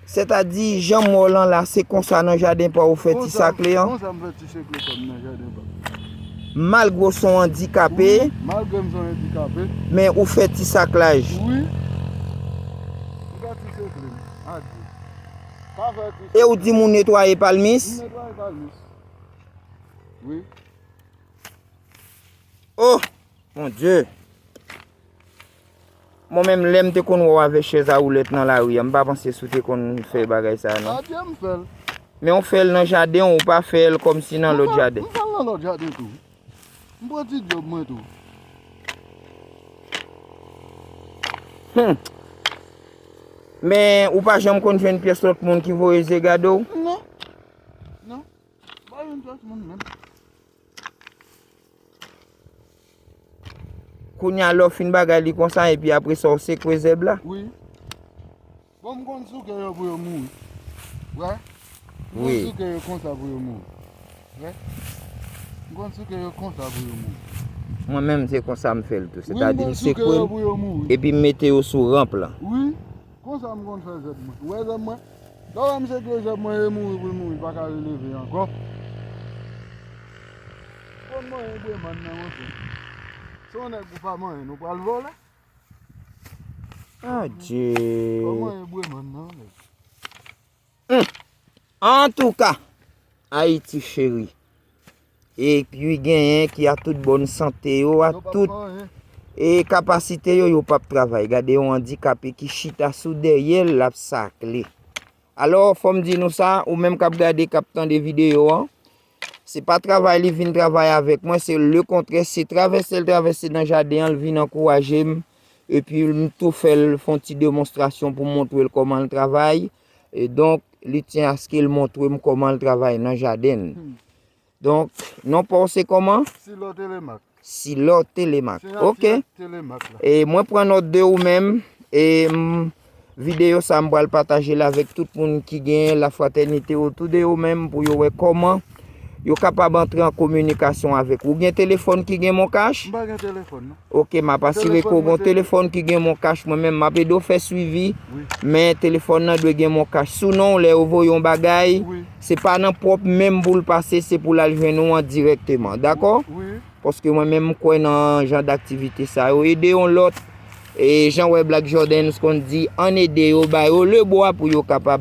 Se ta di jan mò lan la se konsa nan jaden pa ou fè ti sakle an? Konsa m fè ti sekle pa m nan jaden pa m. Malgre ou son andikape? Wi, malgre m son andikape. Men ou fè ti saklaj? Wi. M fè ti sekle m. Adye. Pa fè ti sekle. E ou di m ou netwaye palmis? M netwaye palmis. Wi. Oh! Mon Dieu! Mwen menm lè m te konn wè w avè chèz a woulèt nan lari a, m pa panse si w te konn fè bagay sa non. A Dye m fè l. Men w fè l nan jaden w, ou pa fè l kòm si nan lòt jaden. M fè l nan lòt jaden tou. M pran ti djòb mwen tou. Hum! Men, ou pa janm konn jwenn pyès lòt moun ki voye je gade w? Non. Non. M pa jwenn pyès moun menm. Kounya lè w fin bagay li konsa epi apre sa w sekwe zèb la? Wi. Bon m konn souke yo pou yo mouri. Ou wè? M konn souke yo konsa pou yo mouri. Ou wè? M konn souke yo konsa pou yo mouri. Mwen menm se konsa m fè l tou. Sètadi m sekwe l epi m mete yo sou ranp lan. Wi. Konsa m konn fè zèb mwen. Ou wè zèb mwen? Lè w wè m sekwe zèb mwen e mouri pou l mouri, l pa ka releve ankò. Konn manyen gweman nan monchè. Se yon nèg ou pa manyen ou pral vòlè? Adjee! Konn manyen gweman nan. Humm! Antouka! Ayiti cheri! E pi genyen ki a tout bòn sante yo, a tout e kapasite yo, yo pap travay. Gade yon andikape ki chita sou dèyè l, l ap sakle. Alò, fò m di nou sa, ou menm k ap gade, k ap tande videyo an, Se pa travay li vin travay avèk mwen, se le kontrè, se travèse l travèse nan jaden an l vin ankouraje m, epi m tou fè l fè yon ti demonstrasyon pou m montre l kòman l travay, e donk li tyen aske l montre m kòman l travay nan jaden l. Donk, non pa w se kòman? Silo Télémaque. Silor Telemaque. Sena Ok. Silor Telemaque la. E mwen pran nòt de ou menm. E m videyo sa m pral pataje l avèk tout moun ki gen la fratènite otou de yo menm pou yo wè kòman yo kapab antre an kominikasyon avèk ou. Ou gen telefòn ki gen moncash? M pa gen telefòn non. Ok, m ap asire ke ou gen telefòn ki gen moncash mwen menm. M ap ede ou fè swivi. Wi. Men telefòn nan dwe gen moncash. Sou non ou lè yo voye yon bagay. Wi. Se pa nan pwòp men m pou l pase, se pou l al jwenn ou an dirèkteman. Dakò? Paske mwen menm m kwè nan jan daktivite sa yo. Ede yon lòt. E jan wè Black Jordens konn di, ann ede yo, ba yo lebwa pou yo kapab.